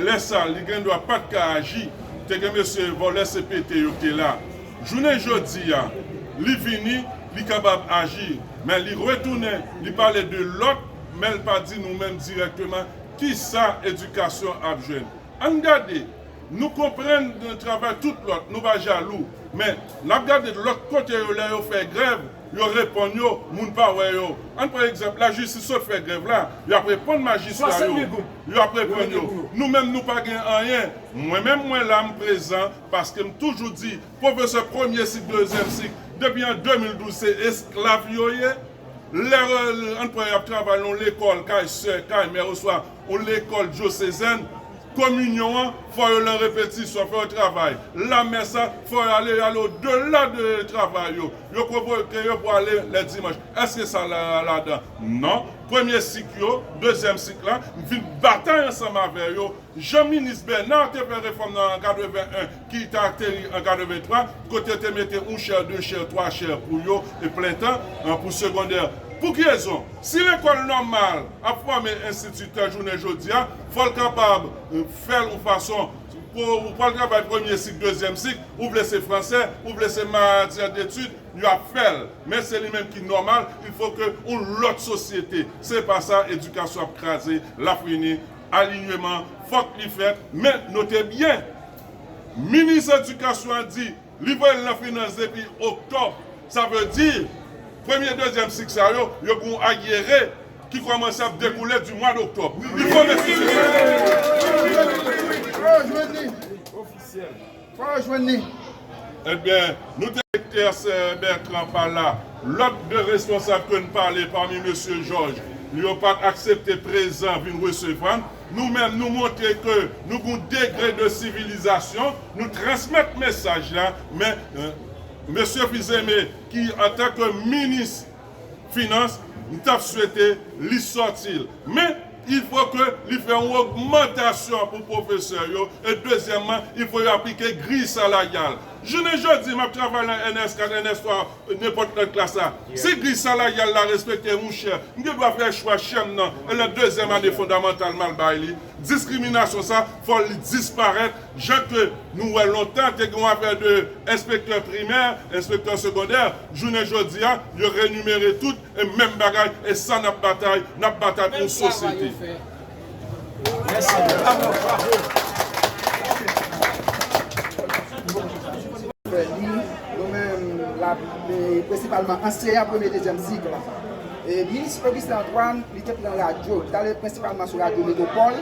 Lè sa li gen dwa pat ka aji, te gen mesye vòlè CPT yo ki te la. Jounen jodi a li vini li kapab aji men li retounen li pale de lòt men l pa di nou menm dirèkteman kisa edikasyon ap jwenn. Ann gade nou konprann travay tout lòt nou pa jalou men n ap gade lòt kote yo lè yo fè grèv yo reponn yo moun pa wè yo ann pran egzanp lajistis sot fè grèv la y ap reponn majistra yo. Yo ap reponn yo, Nou menm nou pa gen anyen. Mwen menm mwen la, m prezan, paske m toujou di, pwofesè premye sik, dezyèm sik, depi an 2012 se esklav yo ye. Lè an pran y ap travay yon lekòl kay sè, kay mè oswa yon lekòl dyosezèn, kominyon an, fò yo lan repetisyon, fò yo travay. Lamès an, fò yo ale, yo ale odela de travay yo. Yo konvoke yo pou ale lè dimanch. Èske sa la ladan? Non. premye sik yo, dezyèm sik la, m vin batay ansanm avè yo, jan minis Bèna te fè refòm nan an 81 ki te ateri an 83, kote yo te mete yon chè, de chè, twa chè pou yo e plen tan pou segondè. Pou ki rezon? Si lekòl nòmal ap fòme enstititè jounen jodi a, fò l kapab fè l yon fason pou ou pa l travay premye sik, dezyèm sik, ou vle se fransè, ou vle se matyè detid, yo ap fèl men se li menm ki nòmal il fo ke yon lòt sosyete se pa sa edikasyon ap kraze lap rini alinyeman fòk li fèt men note byen minis edikasyon an di li voyel nan finans depi oktòb sa vle di premye dezyèm sik sa yo yo gen yon aryere ki kòmanse ap dekoule di mwad oktòb li konnen si se sa. Fò yo jwenn li. Ebyen, nou te. Doktè Sè Bètran pa la. Lòt 2 responsab ke n pale pami Mesye Jòj, yo pa t aksepte prezan vin resevwa n. Nou menm nou montre ke nou gen yon degre de sivilizasyon, nou transmèt mesaj la, men Mesye Fils-Aimé ki antanke minis finans m tap swete li sòti l men il fò ke li fè yon ogmantasyon pou pwofesè yo e dezyèmman il fò yo aplike griy salaryal jounen jodi map travay nan ns 4 ns 3 nenpòt lòt klas la si griy salaryal la respekte mouchè m gen dwa fè chwa chèm nan e lè dezyèm ane fondamantal mal bay li diskriminasyon sa fò li disparèt Jan ke nou wè lontan te gen yon afè de enspektè primè, enspektè segondè, jounen jodi a yo renimere tout e menm bagay e sa nap batay, nap batay pou yon sosyete. Li te pran radyo, li t ale prensipalman sou radyo Metwopòl,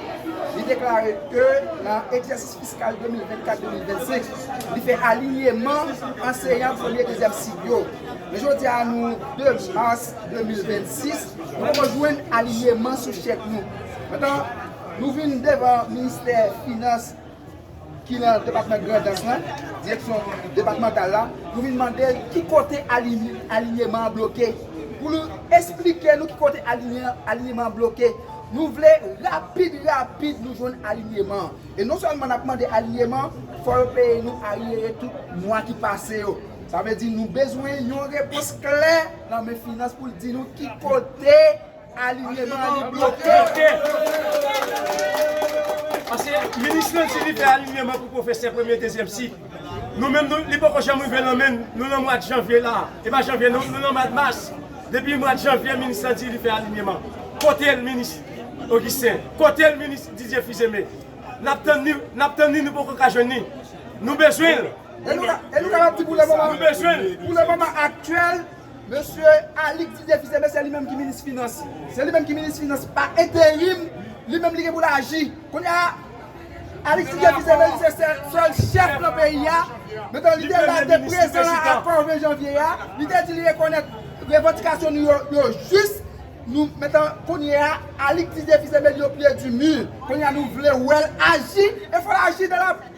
li deklare ke nan egzèsis fiskal 2024-2025, li fè alinyeman anseyan premye, dezyèm sik yo. Men jodi a nou 2 mas 2026, nou poko jwenn alinyeman sou chèk nou. Metan nou vin devan ministè finans, ki nan depatman Grandans lan, direksyon depatmantal la, nou vin mande l ki kote alinyeman an bloke, pou l esplike nou ki kote alinyeman an bloke. Nou vle rapid rapid nou jwenn alinyeman an. E non sèlman n ap mande alinyeman, fò yo peye nou aryere tout mwa ki pase yo. Sa vle di nou bezwen yon repons klè nan men finans pou l di nou ki kote. Alinyeman an li bloke. Pase minis lan di li fè alinyeman pou pwofesè premye dezyèm sik. Nou menm nou li poko janm rive nan menn nou nan mwad janvye la. E pa janvye non nou nan mwad mas. Depi mwad janvye minis lan di li fè alinyeman. Kote l minis Augustin? Kote l minis Didier Fils-Aimé? Nap tann li nap tann li nou poko ka jwenn li. Nou bezwen l. E nou kapab di pou le moman aktyèl. Mesye Alix di defi se mesye li menm ki minis finans. Se li menm ki minis finans pa enterim, li menm li gen pou l aji. Kounye a, Alix di defi se menm se sèl chèf nan peyi a, men tan li te la li te prezan nan akò 20 janvye a, li te di li rekonèt revandikasyon nou yo, yo jis. Nou, men tan kounye a, Alix di defi se menm yo pye di mi. Kounye a nou vle wè l aji, e fò l aji nan la.